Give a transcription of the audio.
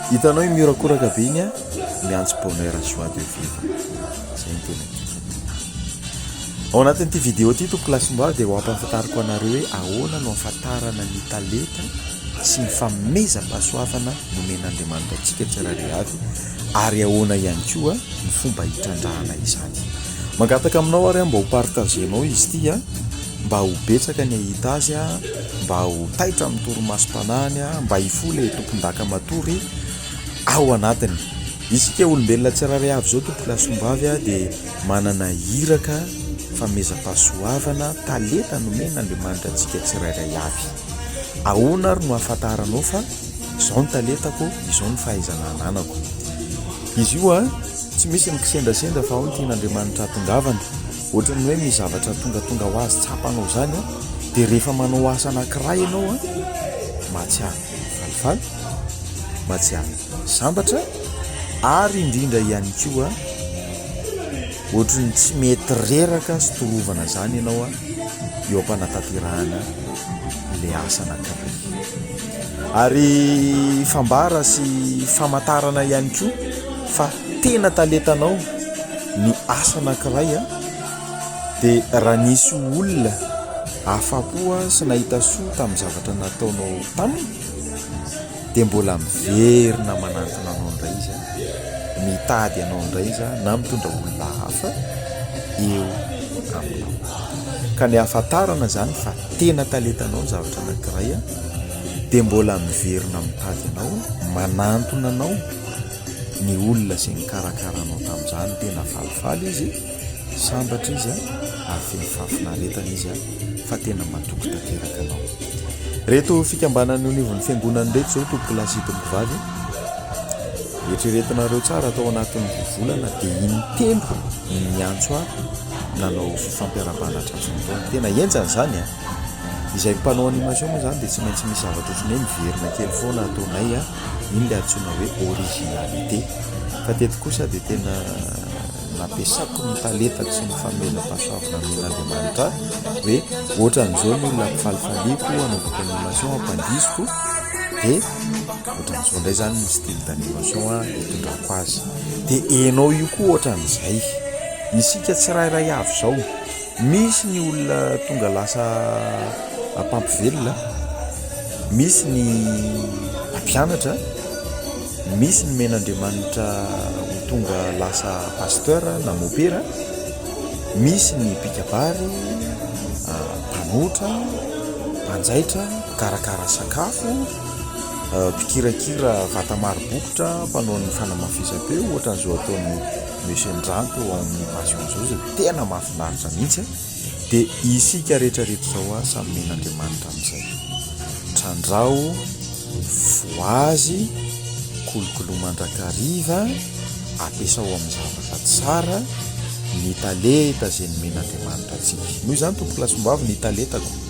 Hitanao i miorakoraka be iny a, miantso bonheur sy joie de vivre. Zay ny tena tiako. Ao anatin'ity vidéo ity tompoko lahy sy mboavy dia ho ampahafantariko anareo hoe ahoana no ahafantarana ny talenta sy ny famehezam-pahasoavana nomen'Andriamanitra antsika tsirairay avy ary ahoana ihany koa ny fomba hitrandrahana izany. Mangataka aminao ary aho mba ho partager-nao izy ity a. Mba ho betsaka ny hahita azy, mba ho taitra amin'ny torimasom-panahiny, mba hifoha ilay tompondaka matory ao anatiny. Isika olombelona tsirairay avy izao, Tompokolahy sy Tompom-bavy, dia manana iraka, famezam-pahasoavana, talenta nomen'Andriamanitra antsika tsirairay avy. Ahoana ary no ahafantaranao fa izao ny talentako, izao ny fahaizana ananako? Izy io tsy misy ny kisendrasendra fa ao ny tian'Andriamanitra hahatongavana. Ohatran'ny hoe misy zavatra tongatonga ho azy tsapanao izany an, dia rehefa manao asa anankiray ianao an, mahatsiaro falifaly, mahatsiaro sambatra ary indrindra ihany koa ohatran'ny tsy mety reraka sy torovana izany ianao an, eo am-panatanterahana ilay asa anankiray. Ary fambara sy famantarana ihany koa. Fa tena talentanao ny asa anankiray an! Dia raha nisy olona afa-po sy nahita soa tamin'ny zavatra nataonao taminy dia mbola miverina manantona anao indray izy an! Mitady anao indray izy an! Na mitondra olona hafa eo aminao. Ka ny ahafantarana izany fa tena talentanao ny zavatra anankiray dia mbola miverina mitady anao, manantona anao. ny olona izay nikarakara anao tamin'izany tena falifaly izy, sambatra izy ary feno fahafinaretana izy fa tena matoky tanteraka anao. Ireto fikambanana eo anivon'ny fiangonana ireto izao tompoko lahy sy tompoko vavy, eritreretinareo tsara atao anatin'ny roa volana dia in-telo ny niantso ahy nanao fifampiarabana tratr'androany. Tena henjana izany an! Izay mpanao animation moa izany dia tsy maintsy misy zavatra ohatran'ny hoe miverina kely foana ataonay an! Iny ilay antsoina hoe originalité. Fa teto kosa dia tena nampiasako ny talentako sy ny fanomezam-pahasoavana nomen'Andriamanitra ahy hoe ohatran'izao ny olona ampifalifaliako, anaovako animation, ampandihiziko dia ohatran'izao indray izany ny style d'animation itondrako azy. Dia ianao io koa ohatran'izay. Isika tsirairay avy izao. Misy ny olona tonga lasa mpampivelona, misy ny mpianatra, misy ny men'Andriamanitra ho tonga lasa pasteur na mopera, misy ny mpikabary, mpanotra, mpanjaitra, mpikarakara sakafo, mpikirakira vata maro bokotra, mpanao ny fanamafisam-peo, ohatran'izao ataon'i Monsieur Ndrano teo amin'ny Passion zao izay tena mahafinaritra mihitsy a! dia isika rehetra reto izao a samy men'Andriamanitra amin'izay trandraho voazy kolokolo mandrakariva ampiasao amin'ny zavatra tsara ny taleta izay nomen'Andriamanitra antsika noho izany Tompokolahy Sombavy ny taletako